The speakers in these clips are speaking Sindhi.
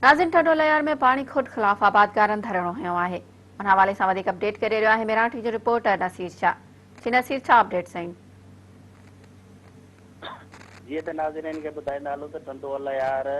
ناظرين ٺٽو ليار ۾ پاڻي کوٽ خلاف آبادگارن ڌرڻو هنيو آهي ان حوالي سان وڌيڪ اپڊيٽ ڪري رهيو آهي ميراٽي جو رپورٽر نصير شاهه جي نصير ڇا اپڊيٽس آهن جي ته ناظرين کي ٻڌائيندا هلون ته ٺنڊو اليار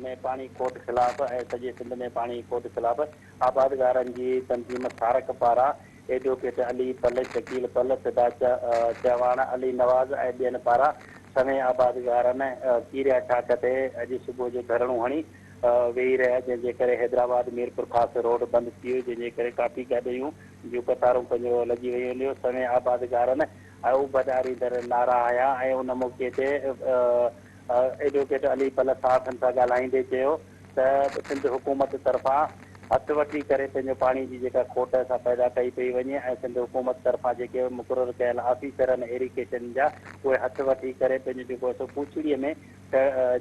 ۾ پاڻي کوٽ خلاف ۽ سڄي سنڌ ۾ پاڻي کوٽ خلاف آبادگارن جي تنظيم سارڪ پاران ايڊووڪيٽ علي پل، شڪيل پل، فدا چهواڻ، علي نواز ۽ ٻين پاران سوين آبادگارن ڪيريا چاڪ تي اڄ صبح جو ڌرڻو هڻي ويهي رهيا جنهن جي ڪري حيدرآباد ميرپورخاص روڊ بند ٿي ويو جنهن جي ڪري ڪافي گاڏيون جون قطارون پنهنجو لڳي ويون جو سوين آبادگارن اڀن آريندڙ نعرا هنيا ۽ ان موقعي تي ايڊووڪيٽ علي پل صحافين سان ڳالهائيندي چيو ته سنڌ حڪومت طرفان هٿ وٺي ڪري پنهنجو پاڻي جي جيڪا کوٽ سا پيدا ڪئي پئي وڃي ۽ سنڌ حڪومت طرفان جيڪي مقرر ڪيل آفيسرن ايريڪيشن جا اهي هٿ وٺي ڪري پنهنجو جيڪو هي سو پوڇڙي ۾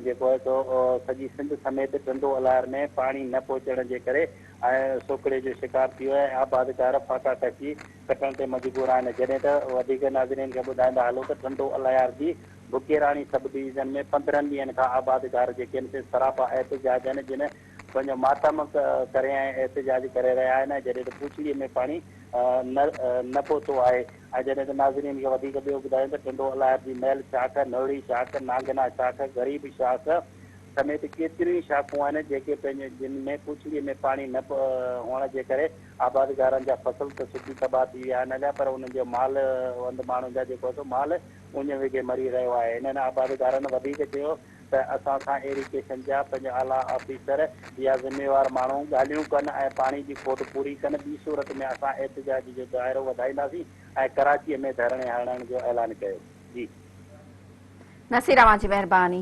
جيڪو هي سو سڄي سنڌ سميت ٽنڊو الار ۾ پاڻي نه پهچڻ جي ڪري ۽ سوڪهڙي جو شڪار ٿي ويو آهي ۽ آبادگار ڦاڪا ڪشي ڪٽڻ تي مجبور آهن جڏهن ته وڌيڪ ناظرين کي ٻڌائيندا هلون ته ٽنڊو الار جي بکيراڻي سب ڊويزن ۾ پندرهن ڏينهن کان آبادگار جي ڪيمسز سراپا احتجاج آهن جن پنهنجو ماتم ڪري ۽ احتجاج ڪري رهيا آهن ۽ جڏهن ته پوڇڙي ۾ پاڻي نه نه پهتو آهي ۽ جڏهن ته ناظرين کي وڌيڪ ٻيو ٻڌايون ته ٽنڊو الاهر جي مئل شاخ، نهڙي شاخ، نانگنا شاخ، غريب شاخ سميت ڪيتريون ئي شاخون آهن جيڪي پنهنجي جن ۾ پوڇڙي ۾ پاڻي نه هئڻ جي ڪري آبادگارن جا فصل ته سڪي تباهه ٿي ويا آهن هليا پر انهن جو مال وند ماڻهن جا جيڪو آهي سو مال اڃ وگهي مري رهيو آهي. انهن آبادگارن وڌيڪ چيو ته اسان سان ايريگيشن جا پنج اعليٰ آفيسر يا ذميوار ماڻهو ڳالهيون ڪن ۽ پاڻي جي کوٽ پوري ڪن ٻي صورت ۾ اسان احتجاج جو دائرو وڌائينداسين ۽ ڪراچي ۾ ڌرڻي هڻڻ جو اعلان ڪيو جي. نصير اوهان جي مهرباني.